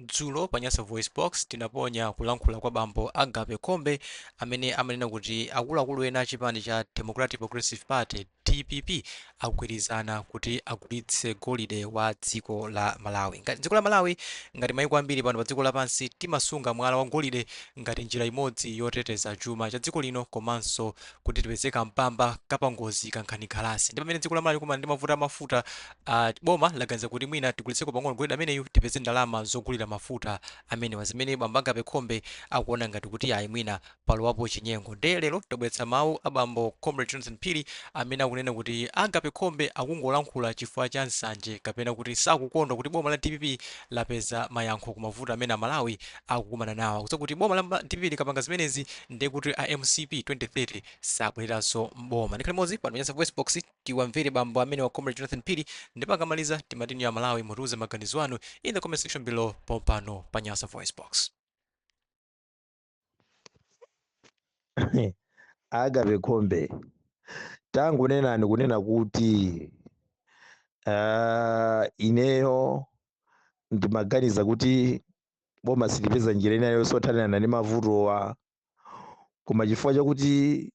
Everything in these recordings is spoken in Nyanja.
Dzulo pa Nyasa VoiceBox, tinaponya kulankhula kwa bambo Agape Khombe amene amanena kuti akuluakulu ena a chipani cha Democratic Progressive Party, dpp, agwirizana kuti agulitse golide wa dziko la Malawi. Ngati dziko la Malawi, ngati maiko ambiri pano pa dziko lapansi, timasunga mwala wa golide ngati njira imodzi yoteteza chuma cha dziko lino komanso kuti tipeze ka mpamba ka pangozi kankhanikhalasi. Ndi pamene dziko la Malawi likumana ndi mavuto a mafuta Boma laganiza kuti mwina tigulitseko pang'ono golide ameneyu tipeze ndalama zogulira mafuta amenewa zimene bambo Agape Khombe akuona ngati kuti ayi mwina palowapo chinyengo nde lero tabweretsa mawu a bambo Comrade Jonathan Phiri amene akunena kuti a Agape Khombe akungolankhula chifukwa cha nsanje kapena kuti sakukondwa kuti boma la dpp lapeza mayankho ku mavuto amene Amalawi akukumana nawo. Akudziwa kuti boma la dpp likapanga zimenezi nde kuti a mcp 2030 sabwereranso m'boma. Tikhale limodzi pano pa Nyasa Voicebox. Tiwamvere bambo amenewa Comrade Jonathan Phiri ndipo akamaliza timafuna inu amalawi mutiuze maganizo anu in the comment section below pompano pa Nyasa Voice Box. agape khombe tangonenani kunena kuti uh, ineyo ndimaganiza kuti boma silipeza njira ina iliyonse yothanirana ndi mavutowa koma chifukwa chakuti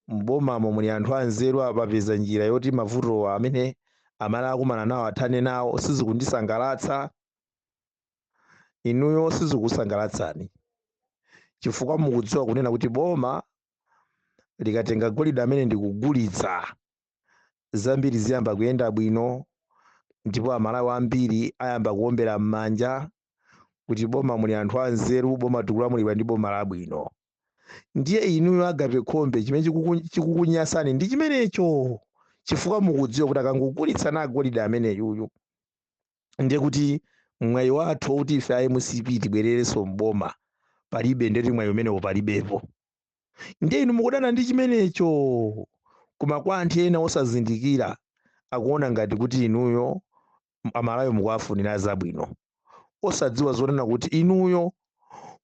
m'bomamo muli anthu anzeru apa apeza njira yoti mavutowa amene amalawi akumana nawo athane nawo sizikundisangalatsa inuyo sizikukusangalatsani chifukwa mukudziwa kunena kuti boma likatenga golide ameneyu ndikugulitsa zambiri ziyamba kuyenda bwino ndipo amalawi ambiri ayamba kuombera m'manja kuti m'boma muli anthu anzeru boma tikulamulidwa ndi boma labwino ndiye inuyo agape khombe chimene chikukunyasani ndi chimenecho chifukwa mukudziwa kuti akangogulitsa golide ameneyuyu ndiye kuti mwayi wathu wakuti ife a mcp tibwererenso mboma palibe ndeti mwayi umenewo palibepo ndiye inu mukudana ndi chimenecho koma kwa anthu ena osazindikira akuona ngati kuti inuyo amalawi mukuwafunira zabwino osadziwa zonena kuti inuyo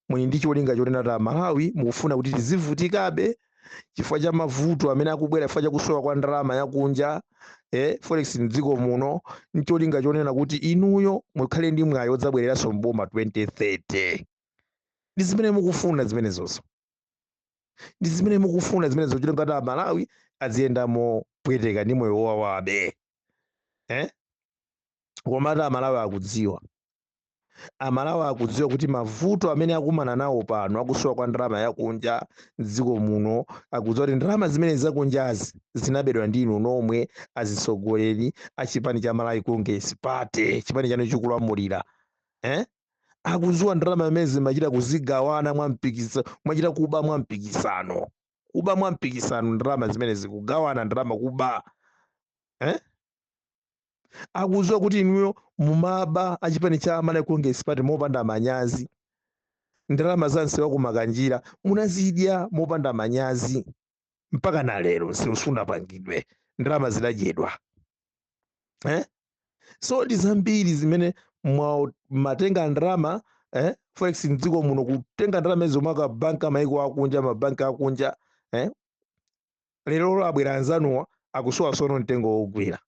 muli ndi cholinga chonena kuti amalawi mukufuna kuti tizivutikabe chifukwa cha mavuto amene akubwera chifukwa cha kusowa kwa ndalama yakunja eh, forex mdziko muno ncholinga chonena kuti inuyo mukhale ndi mwayi odzabwereranso mboma 2030 ndi zimene mukufuna zimenezozo ndi zimene mukufuna zimenezo cholinga choti amalawi aziyenda mopweteka ndi moyo owawabe eh? komatu amalawi akudziwa amalawi akudziwa kuti mavuto amene akumana nawo pano akusowa kwa ndalama yakunja mdziko muno akudziwa kuti ndalama zimene zakunjazi zinabedwa ndi inu nomwe azitsogoleri a chipani cha malawi congress party chipani chanu chikulamulira eh? akudziwa ndalama zimenezi machita kuzigawana mwa mpikisano mwachita kuba mwa mpikisano kuba mwa mpikisano ndalama zimenezi kugawana ndalama kuba eh? akudziwa kuti inuyo mumaba achipani cha malawi congress party mopanda manyazi ndalama za msewu wa ku makanjira munazidya mopanda manyazi mpaka na lero msewu sunapangidwe ndalama zinadyedwa eh? so ndi zambiri zimene matenga ndalama eh? forex mdziko muno kutenga ndalama izo ma banki amaiko akunja mabanki akunja eh? lerolo abwera anzanuwa akusowa sono mtengo wogwira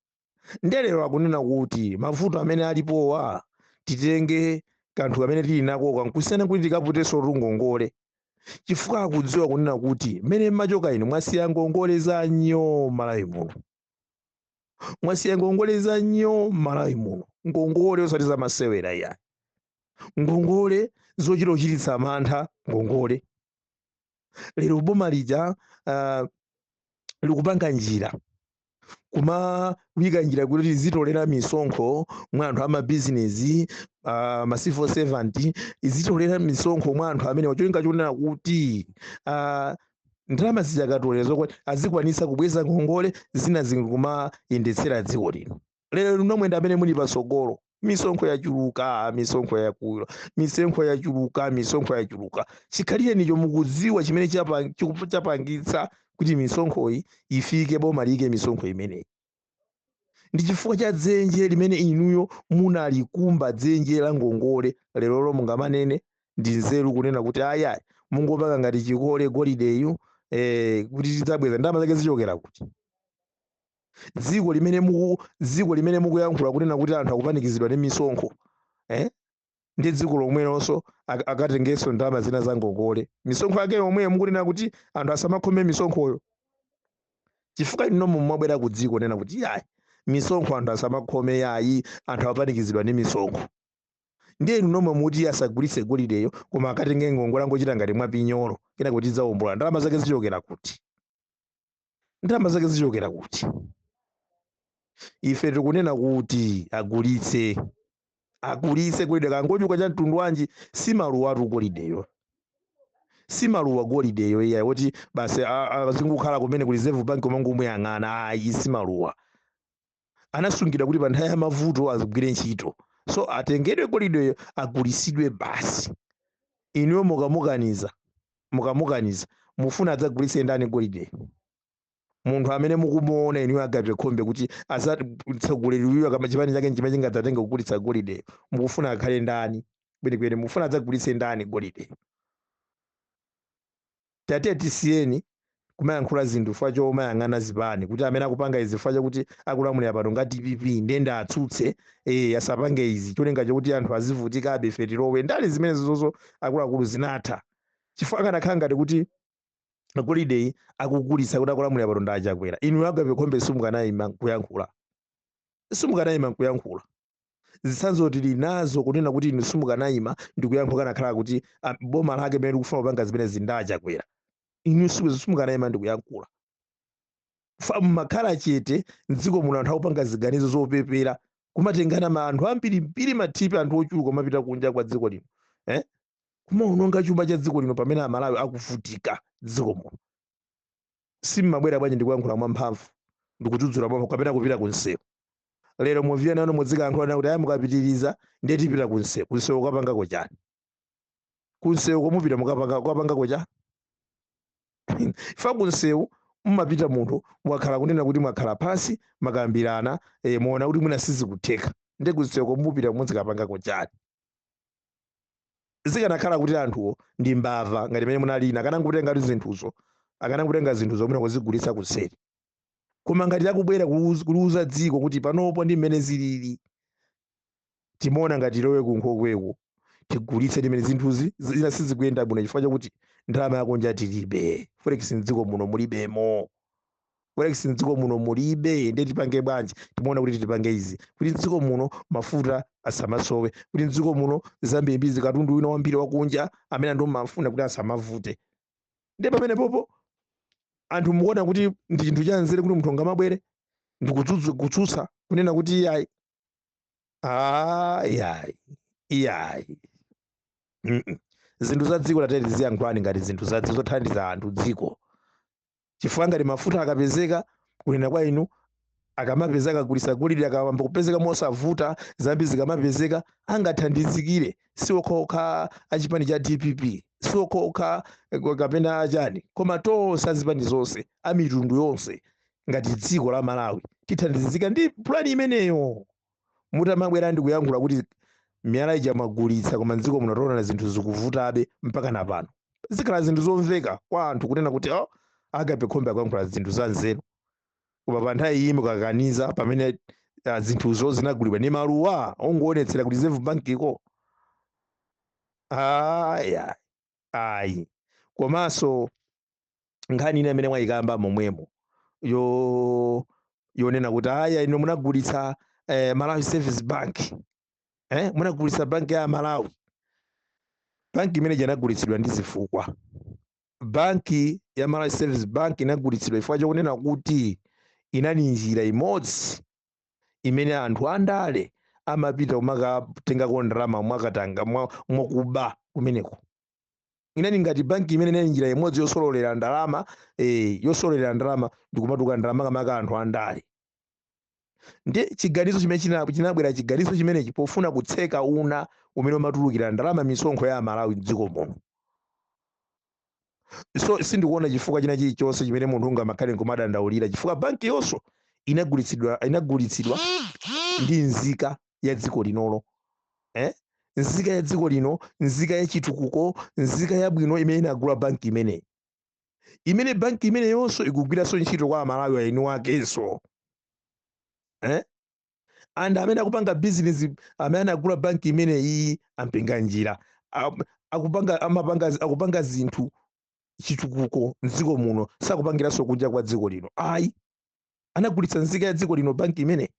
nde lero akunena kuti mavuto amene alipowa titenge kanthu kamene tili nako kankusiyana kuti tikaputenso tungongole chifukwa akudziwa kunena kuti mmene mmachoka inu mwasiya ngongole za nyo malawi muno mwasiya ngongole za nyo m'malawi muno ngongole osati za masewera iyayi ngongole zochita kuchititsa mantha ngongole lero boma lija uh, likupanga njira kumawika njira kuti izitolera misonkho mwa anthu amabizinesi uh, ma civil servant izitolera misonkho mwa anthu amenewa cholinga chonena kuti uh, ndalama zija akatolera izo azikwanitsa kubweza ngongole zina zikumayendetsera dziko lino lero inu nomwe ndi amene muli patsogolo misonkho yachuluka misonkho yakula misonkho yachuluka misonkho yachuluka chikhalirenicho mukudziwa chimene chapa- chiku- chapangitsa kuti misonkhoyi ifike boma liyike misonkho imeneyi ndi chifukwa cha dzenje limene inuyo munalikumba dzenje la ngongole lerolo mungamanene ndi nzeru kunena kuti ayayi mungopanga ngati chikole golideyu eh, kuti tidzabweza ndalama zake zichokera kuti dziko limene muku dziko limene mukuyankhula kunena kuti anthu akupanikizidwa ndi misonkho eh? ndi dziko lomwelonso ak- akatengenso ndalama zina za ngongole misonkho yake yomweyo mukunena kuti anthu asamakhome misonkhoyo chifukwa inu nomwe mwabwera kudzikanena kuti yayi misonkho anthu asamakhome yayi anthu apanikizidwa ndi misonkho ndiye inu nomwe muti asagulitse golideyo koma akatenge ngongole angochita ngati mwapinyolo kunena kuti adzawombola ndalama zake zichokera kuti ndalama zake zichokera kuti ife tikunena kuti agulitse agulitse golide kangachuke chuma cha mtundu wanji si maluwatu golideyo si maluwa golideyo iyayi woti basi a- azingokhala kumeneko ku reserve bank kumangomuyang'ana ayi si maluwa anasungidwa kuti pa nthawi ya mavuto agwire ntchito so atengedwe golideyo agulitsidwe basi inuyo mukamukaniza mukamukaniza mufuna adzagulitse ndani golideyo munthu amene mukumuona inuyo agape khombe kuti atsogoleri uyu kaya chipani chake chimene chingadzatenge kugulitsa golideyo mukufuna akhale ndani kwenikweni mufuna adzagulitse ndani golideyo Tatiyeni tisiye kumayankhula zinthu chifukwa chomayang'ana zipani kuti amene akupanga izi chifukwa chakuti akulamulira pano ndi a dpp ndiye ndiatsutse eh, asapange izi cholinga chokuti anthu azivutikabe ife tilowe ndale zimenezozo akuluakulu zinatha chifukwa akanakhala ngati kuti golideyu akugulitsa kuti akulamulira pano ndi achakwera inu agape khombe simukanayima nkuyankhula simukanayima nkuyankhula zitsanzo tili nazo kunena kuti inu simukanayima ndikuyankhula kanakhala kuti ah, boma lake limene likufuna kupanga zimenezi ndi achakwera inu siku- simukanayima ndikuyankhula mumakhala chete mdziko muno anthu akupanga ziganizo zopepera kumatengana ma anthu ambirimbiri matripi anthu ochuluka kumapita kunja kwa dziko lino eh? kumaononga chuma cha dziko lino pamene amalawi akuvutika mdziko muno Sim'mabwera bwanji ndikuyankhula mwa mphamvu ndikudzudzula mwa mphamvu kapena kupita ku msewu. Lero mubwere nanu mudzikayankhula nanu kuti ayi mukapitiriza ndiye tipita ku msewu. Ku msewu kukapangako chani? Ku msewuko mupita mukapanga kukapangako chani? Chifukwa ku msewu mumapita munthu mwakhala kunena kuti mwakhala pansi makambirana eh, mwaona kuti mwina sizikutheka. Ndiye ku msewuko mupita mudzikapangako chani? zikanakhala kuti anthuwo ndi mbava ngati mmene munalili inu akanangotenga kuti zinthuzo akanangotenga zinthuzo nkuzigulitsa kuseri koma ngati akubwera kuuz- kuliuza dziko kuti panopo ndi mmene zilili timaona ngati tilowe kunkhokweku tigulitse zimenezi zinthu zina sizikuyenda bwino chifukwa chakuti ndalama yakunja tilibe forex mdziko muno mulibemo Forex mdziko muno mulibe ndiye tipange bwanji timaona kuti tipange izi kuti mdziko muno mafuta asamasowe kuti mdziko muno zambirimbiri katundu wina wambiri wakunja amene anthu amafuna kuti asamavute ndiye pamenepopo anthu mukuona kuti ndi chinthu cha nzeru kuti munthu angamabwere ndi kutsutsu- kutsutsa kunena kuti iyayi ah, iyayi iyayi Mm-mm. zinthu za dziko tadziyankhulani ngati zinthu za zothandiza anthu dziko chifukwa ngati mafuta akapezeka kunena kwa inu akamapeza akagulitsa golide akayamba kupezeka mosavuta zambiri zikamapezeka angathandizikire si okhaokha achipani cha dpp si okhaokha eh, kapena achani koma tonse azipani zonse amitundu yonse ngati dziko la malawi tithandizika ndi pulani imeneyo mutamabwera ndi kuyankhula kuti miyala ija mwagulitsa koma mdziko muno taonana zinthu zikuvutabe mpaka na pano zikhala zinthu zomveka kwa anthu kunena kuti oh, agape khombe akuyankhula zinthu za nzeru koma pa nthawi iyi mukakaniza pamene ah, zinthuzo zinagulidwa ni maluwa ongoonetsera kuti reserve bank iko aya ayi komanso nkhani ina imene mwayikamba momwemo yo yonena kuti aya ino munagulitsa eh, Malawi Savings Bank eh, munagulitsa banki ya Malawi banki imene inagulitsidwa ndi zifukwa banki ya Malawi Savings Bank inagulitsidwa chifukwa chokunena kuti inali njira imodzi imene anthu andale amapita kumakatengako ndalama mwakatanga mwa- mwakuba kumeneko inali ngati banki imene inali njira imodzi yosololera ndalama eh, yosololera ndalama ndikumatuluka ndalama makamaka anthu andale ndiye chiganizo chimene china- chinabwera chiganizo chimenechi pofuna kutseka una umene umatulukira ndalama misonkho ya amalawi mdziko muno so sindikuona chifukwa china chilichonse chimene munthu ungamakhale nkumadandaulira chifukwa banki yonso inagulitsidwa inagulitsidwa ndi nzika ya dziko linolo eh? nzika ya dziko lino nzika ya chitukuko nzika yabwino imene inagula banki imeneyi imene banki imeneyonso ikugwiranso ntchito kwa amalawi eniakenso eh? and amene akupanga business amene anagula banki imeneyi a Mpinganjira Am- akupanga amapanga akupanga zinthu chitukuko mdziko muno sakupangiranso kunja kwa dziko lino ayi anagulitsa nzika ya dziko lino banki imene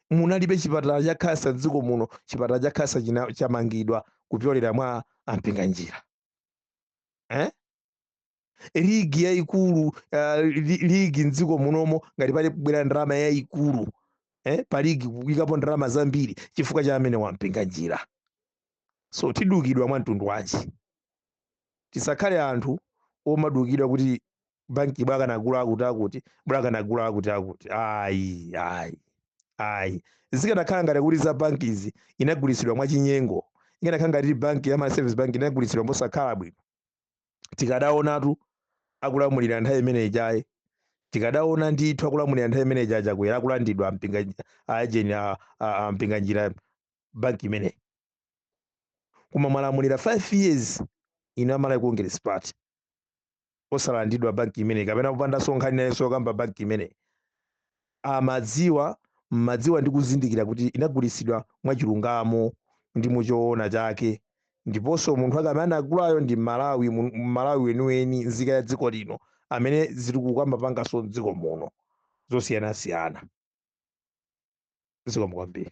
munalibe chipatala cha khansa mdziko muno chipatala cha khansa china- chamangidwa kupyolera mwa a Mpinganjira eh? ligi yayikulu uh, li, ligi mdziko munomo ngati pali kubwera ndalama yayikulu eh? pa ligi kuyikapo ndalama zambiri chifukwa cha amenewa a Mpinganjira so tidukidwa mwa mtundu wanji tisakhale anthu omadukidwa kuti banki bwa akanagula akuti akuti bwa akanagula akuti akuti ayi ayi ayi zikanakhala ngati kuti za banki izi inagulitsidwa mwachinyengo ikanakhala ngati banki ya Malawi Savings Bank inagulitsidwa mosakhala bwino tikadaonatu akulamulira nthawi imene ijayi tikadaona ndithu akulamulira nthawi imene ija a Chakwera akulandidwa ampinga ajeni a- a- a Mpinganjira banki imeneyi koma mwalamulira 5 years ino a Malawi Congress Party osalandidwa banki imeneyi kapena kupandanso nkhani inayonse yokamba banki imeneyi amadziwa mmadziwa ndi kuzindikira kuti inagulitsidwa mwachilungamo ndi muchoona chake ndiponso munthu ake amene anagulayo ndi mmalawi mu- mmalawi weniweni nzika ya dziko lino amene zilikukamba panganso mdziko muno zosiyanasiyana zikomo kwambiri